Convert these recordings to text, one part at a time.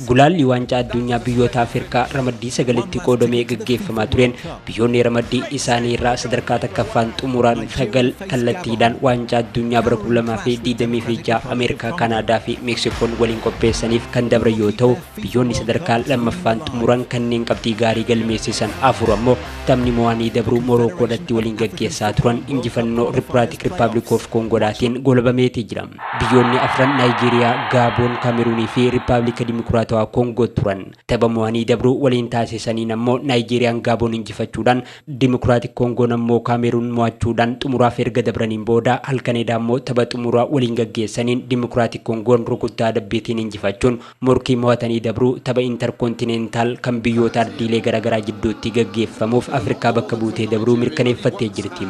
Gulaalli Waancaa Adduunyaa biyyoota Afirkaa ramaddii sagalitti qoodamee gaggeeffamaa tureen biyyoonni ramaddii isaanii irraa sadarkaa takkaffaan xumuraan sagal kallattiidhaan Waancaa Adduunyaa bara 2026 Ameerikaa, Kaanaadaa fi Meeksikoon waliin qopheessaniif kan dabran yoo ta'u, biyyoonni sadarkaa lammaffaan xumuran kanneen qabxii gaarii galmeessisan afur ammoo taphni mo'anii dabruu Morookoodhatti waliin gaggeessaa turan injifannoo Rippiraatik Rippaabliik of Koongoodhaatiin goolabameeti jira. Biyyoonni afran Naayijeeriyaa, Gaaboon, Kaameruunii fi Rippaablika Dimokiraatawaa Koongoo turan. Tapha mo'anii dabruu waliin taasisaniin ammoo Naayijeeriyaan Gaaboon injifachuudhaan, Dimokiraatik Koongoon ammoo Kaameruun mo'achuudhaan xumuraaf erga dabraniin booda halkan edaa ammoo tapha xumuraa waliin gaggeessaniin Dimokiraatik Koongoon rukuttaa adabbiitiin injifachuun Morkii mo'atanii dabruu tapha Interkontinentaal kan biyyoota ardiilee garaagaraa jidduutti gaggeeffamuuf Afrikaa bakka buutee dabruu mirkaneeffattee jirti.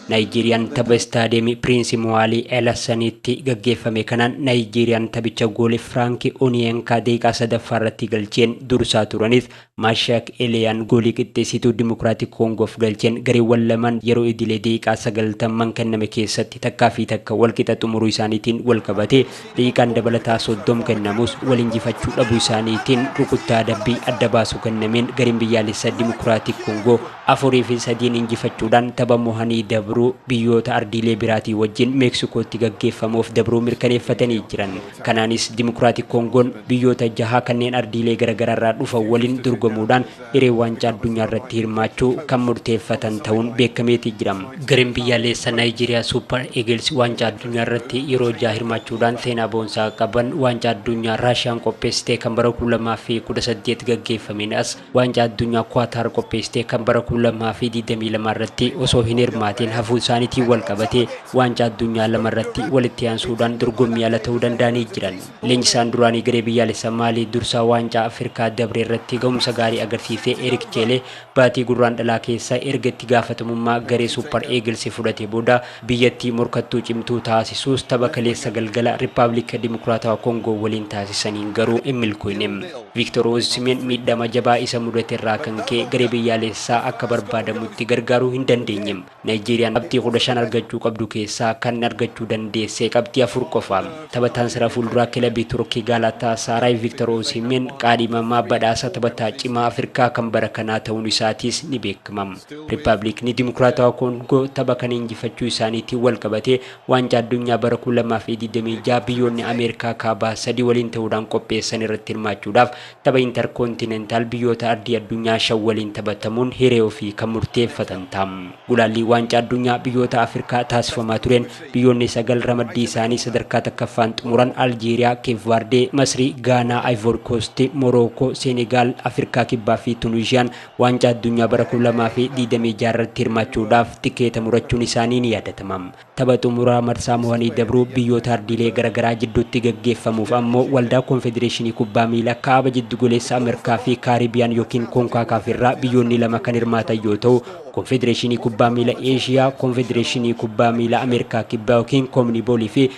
Naayijeeriyaan tapha Istaadiyeemii Piriinsi Muwaalii Elasaniitti gaggeeffame kanaan Naayijeeriyaan taphicha gooli Firaanki Oniyenkaa daqiiqaa 3ffaarratti galcheen dursaa turanis Mashaak Eliyaan goolii qixxeessituu Dimokiraatik Koongoof galcheen gareewwan lamaan yeroo idilee daqiiqaa 90n kenname keessatti takkaa fi takka wal qixa xumuruu isaaniitiin wal qabatee daqiiqaan dabalataa 30 kennamus wal injifachuu dhabuu isaaniitiin rukuttaa adabbii adda baasu kennameen gareen biyyaalessaa Dimokiraatik Koongoo 4 fi 3n injifachuudhaan tapha mohanii dabruu biyyoota ardiilee biraatii wajjin Meeksikootti gaggeeffamuuf dabruu mirkaneeffatanii jiran. Kanaanis Dimokiraatik Koongoon biyyoota jaha kanneen ardiilee garagaraarraa dhufan waliin dorgomuudhaan hiree waancaa addunyaarratti hirmaachuu kan murteeffatan ta'uun beekameeti jira. Gareen biyyaaleessa Naayijeeriyaa Suupar Eegils waancaa addunyaarratti yeroo jaha hirmaachuudhaan seenaa boonsaa qaban waancaa addunyaa Raashiyaan qopheessite kan bara 2018 gaggeeffameen as Waancaa Addunyaa Kuwaataar qopheessite kan bara 2022 irratti osoo hin hirmaatiin hafuun isaaniitiin walqabatee Waancaa Addunyaa lama irratti walitti aansuudhaan dorgommii ala ta'uu danda'anii jiran. Leenjisaan duraanii garee biyyaalessa Maalii dursaa Waancaa Afirkaa dabre irratti gahumsa gaarii agarsiise Erik Cheelee baatii Gurraandhalaa keessa erga itti gaafatamummaa garee Suupar Eegilsi fudhatee booda Biyyattii morkattuu cimtuu taasisuus tapha kaleessa galgala Rippaablika Dimokiraatawaa Kongoo waliin taasisaniin garuu hin milkooyne. Viiktor Osimeen miidhama jabaa isa mudaterraa kan ka'e garee biyyaalessaa akka barbaadamutti gargaaruu hin dandeenye. Naayijeeriyaan qabxii 15 argachuu qabdu keessaa kan argachuu dandeesse qabxii 4 qofa. Taphataan sarara fuulduraa kilabii Turkii Gaalaataasaaraay Viiktor Osimeen qaadhimamaa badhaasa taphataa cimaa Afirkaa kan bara kanaa ta'uun isaatiis ni beekama. Rippabiliikni Dimokiraatawaa Koongoo tapha kana injifachuu isaaniitiin wal qabatee Waancaa Addunyaa bara 2026 biyyoonni Ameerikaa Kaabaa sadii waliin ta'uudhaan qopheessan irratti hirmaachuudhaaf tapha Interkoontinentaal biyyoota ardii addunyaa shan waliin taphatamuun hiree ofii kan murteeffatan ta'a. Gulaallii Waancaa Addunyaa biyyoota Afirkaa taasifamaa tureen biyyoonni sagal ramaddii isaanii sadarkaa takkaffaan xumuran Aljeeriyaa, Keep Vaardee, Masrii, Gaanaa, Ayvoori Koosti, Morookoo, Seenegaal, Afirkaa Kibbaa fi Tunuuziyaan Waancaa Addunyaa bara 2026 irratti hirmaachuudhaaf tikeeta murachuun isaanii ni yaadatama. Tapha xumuraa marsaa mohanii dabruu biyyoota ardiilee garagaraa jidduutti gaggeeffamuuf ammoo Waldaa Konfedereeshinii Kubbaa Miilaa Kaaba Jiddugoleessa Amerkaa fi Kaaribiyaan ykn Konkakaaf irraa biyyoonni lama kan hirmaatan yoo ta'u, Konfedereeshinii Kubbaa Miila Eeshiyaa, Konfedereeshinii Kubbaa Miilaa Ameerikaa Kibbaa ykn Koominibool fi